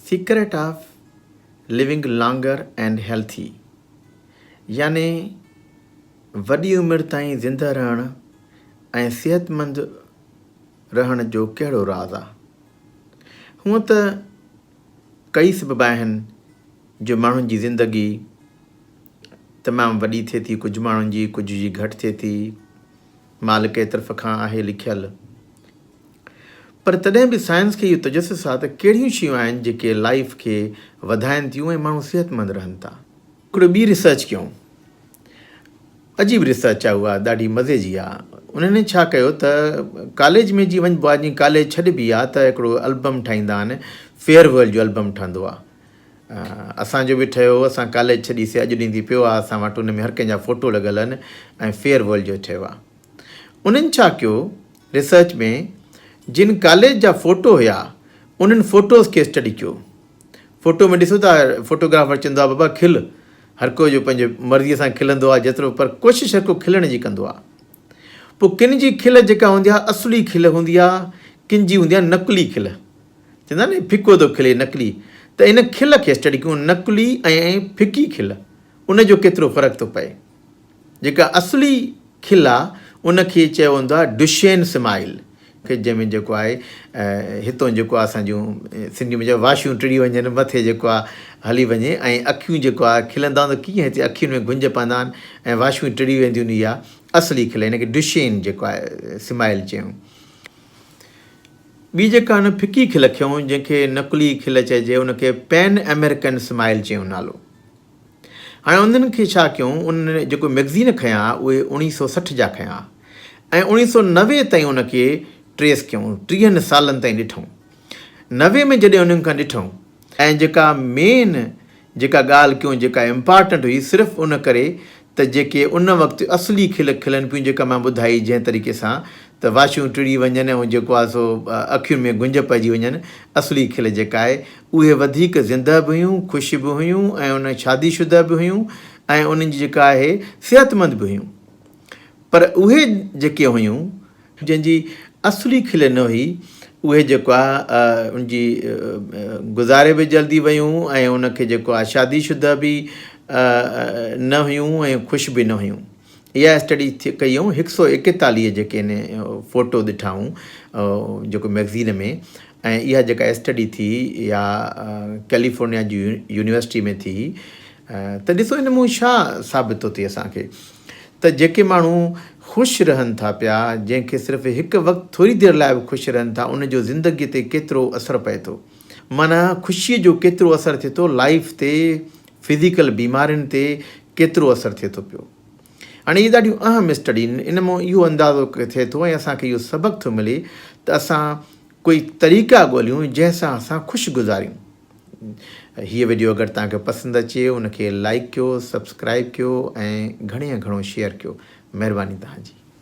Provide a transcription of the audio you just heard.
Secret of living longer and healthy يعني وڏي عمر تائين زندهه رهڻ ۽ صحتمند رهڻ جو ڪهڙو راز آ؟ هونئن ته ڪئي سبب آهن جو ماڻهن جي زندگي تمام وڏي ٿئي ٿي ڪجهه ماڻهن جي ڪجهه جي گهٽ ٿئي ٿي مالڪ ئي طرف کان آهي لکيل. پر تڏهن به سائنس کي اهو تجسس آهي ته ڪهڙيون شيون آهن جيڪي لائيف کي وڌائين ٿيون ۽ ماڻهو صحتمند رهن ٿا. هڪڙي ٻي ريسرچ ڪيون. عجيب ريسرچ آهي اها ڏاڍي مزي جي آهي. انهن ڇا ڪيو ته ڪاليج ۾ جي وڃبو آهي جي ڪاليج ڇڏبي آهي ته هڪڙو البم ٺاهيندا آهن فيئر ويل جو البم ٺهندو آهي اسان جو به ٺهيو هو اسان ڪاليج ڇڏي سي اڄ ڏينهن ٿي پيو آ اسان وٽ ان ۾ هر ڪنهن جا فوٽو لڳل آهن ۽ فيئر ويل جو ٺهيو آ انهن ڇا ڪيو ريسرچ ۾ جن ڪاليج جا فوٽو هيا انهن فوٽوز کي اسٽڊي ڪيو فوٽو ۾ ڏسو ٿا فوٽوگرافر چوندو آ بابا کل هر ڪو جو پنهنجي مرضي سان کلندو آ جيترو پر ڪوشش هر ڪو کلڻ جي ڪندو آ پو ڪن جي کل جيڪا هوندي آ اصلي کل هوندي آ ڪن جي هوندي آ نقلي کل چوندا آهن نه ڦڪو ٿو کلي نقلي ته ان کل کي اسٽڊي ڪيون نقلي ۽ ڦڪي کل ان جو ڪيترو فرق ٿو پئي جيڪا اصلي کل آ ان کي چيو ويندو آهي ڊشين سمائيل کي جنهن ۾ جيڪو آهي هتون جيڪو اسان جون سنڌي ۾ واشيون ٽڙي وڃن مٿي جيڪو آ هلي وڃي ۽ اکيون جيڪو آهي کلندا آهن ته ڪيئن هتي اکين ۾ گنج پوندا آهن ۽ واشيون ٽڙي وينديون آهن اها اصلي کل ان کي ڊشين جيڪو آهي سمائيل چيون ٻي جيڪا هن ڦڪي کل کيون جنهن کي نقلي کل چئجي ان کي پين امريڪن سمائيل چيون نالو. هاڻي انهن کي ڇا ڪيون انهن جيڪو مئگزين کنيا اهي اوهين سؤ سٺ جا کنيا ۽ اوڻيهه سؤ نوي تائين ان کي ٽريس ڪيون ٽيهن سالن تائين ڏٺون نوي ۾ جڏهن انهن کان ڏٺون ۽ جيڪا مين جيڪا ڳالهه ڪيون جيڪا امپارٽنٽ هئي صرف ان ڪري ته جيڪي ان وقت اصلي کل کلن پيون جيڪا مان ٻڌائي جنهن طريقي سان ته واشون ٽڙي وڃن ۽ جيڪو آهي سو اکين ۾ گنج پئجي وڃن اصلي کل جيڪا آهي اهي وڌيڪ زنده به هيون خوش به هيون ۽ ان شادي شده به هيون ۽ انهن جي جيڪا آهي صحت مند به هيون پر اهي جيڪي هيون جنهن جي اصلي کلي نه هئي، اهي جيڪو آ ان جي گذاري به جلدي ويون ۽ ان کي جيڪو آ شادي شده به نه هيون ۽ خوش به نه هيون. اها اسٽڊي ڪئيئون هڪ سؤ ايڪيتاليهه جيڪي ان فوٽو ڏٺائون جيڪو مئگزين ۾ ۽ اها جيڪا اسٽڊي ٿي اها ڪيليفورنيا جي يونيورسٽي ۾ ٿي ته ڏسو ان مون ڇا ثابت ٿو ٿئي اسان کي ته جيڪي ماڻهو خوش رهن ٿا پيا، جنهن کي صرف هڪ وقت ٿوري دير لاء به خوش رهن ٿا، ان جو زندگيء تي ڪيترو اثر پئي ٿو. معنيٰ خوشيء جو ڪيترو اثر ٿئي ٿو لائيف تي، فزيڪل بيمارين تي ڪيترو اثر ٿئي ٿو پيو. هاڻي اهي ڏاڍيون اهم اسٽڊين، ان مان اهو اندازو ٿئي ٿو ۽ اسان کي اهو سبق ٿو ملي ته اسان ڪوئي طريقا ڳوليون، جنهن سان اسان خوش گذاريون. هيء وڊيو اگر توهان کي پسند اچي ان کي لائيڪ ڪيو سبسڪرائيب ڪيو ۽ گهڻي ۾ گهڻو شيئر ڪيو مهرباني توهان جي.